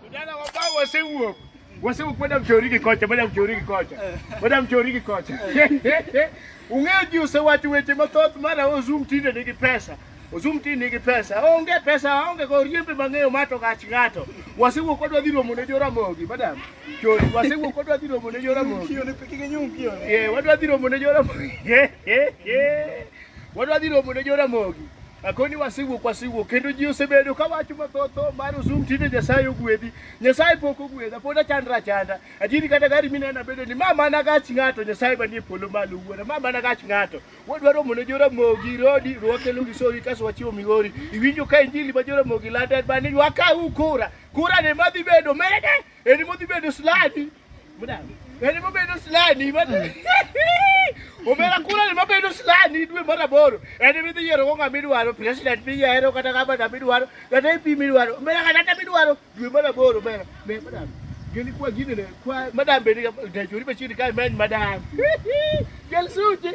Vijana wabao wasiuo wasiu kwenda mchoriki kocha bada mchoriki kocha bada mchoriki kocha ung'eyo ji osewacho weche mathoth mara ozum tinde nigi pesa ozum tinde nigi pesa onge pesa onge ko riembe mang'eyo mato gach ng'ato wasiwuok kodwa dhi romo ne joramogi madam chori wasiwuok kodwa dhi romo ne joramogi wadwa dhi romo ne joramogi Wadwa dhi romo ne joramogi. Akoni wasewuok wasewuok kendo ji osebedo ka wacho mathotho mar usum tinde Nyasaye ogwedhi. Nyasaye pok ogwedha pod achandra achanda. Ajini kata gari minena bedo ni ma mana gach ng'ato Nyasaye manie polo malo wuora ma mana gach ng'ato. Wadwa romo ne joramogi rodi rwakelo gisori kaso wachiwo migori. Iwinjo ka injili ma joramogi lando en bani ywaka u kura. Kura ne madhi bedo mede. Eni modhi bedo sladi. Bende mabedo slani omera kula ni mabedo slani dwe mar aboro en midhi yiero go ng'ama idwaro president miyiero kata gavana midwaro kata MP midwaro omera kata midwaro dwe mar aboro omera madam gini kwa gini ne kwa madam bende dajori machiegni kae many madam gel suti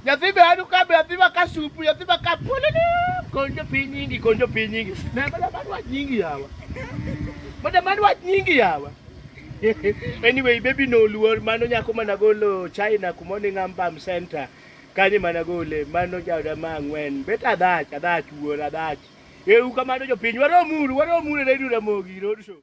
Nyathi be anu ka be nyathi ma ka supu nyathi ma ka pululu konjo piny nyingi konjo piny nyingi ne mada mad wach nyingi yawa mada mad wach nyingi yawa anyway baby no luor mano nyako mana golo China kuma ni ngambam center kanye mana gole mano jawda ma ang'wen bet adhach adhach wuor adhach eu kamano jopiny waromuru waromuru e redio Ramogi Road Show